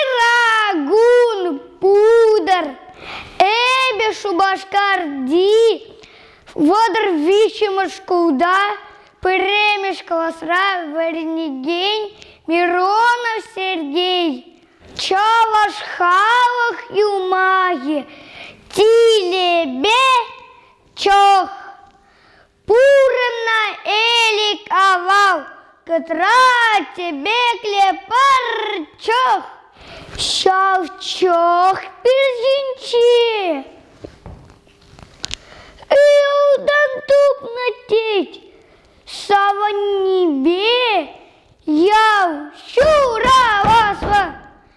Ырагун путӑр, эпӗ Шупашкарти вӑтӑр виҫҫӗмӗш шкулта пӗрремӗш класра вӗренекен Миронов Сергей Чӑваш халӑх юмахӗ Тилепе чӑх Пурӑннӑ Элӗк авал кӑтра тӗпеклӗ пӑрчӑк. Ҫав чӑх пирсинчи ылтӑн тупнӑ тет. Савӑннипе ял ҫураваслӑ.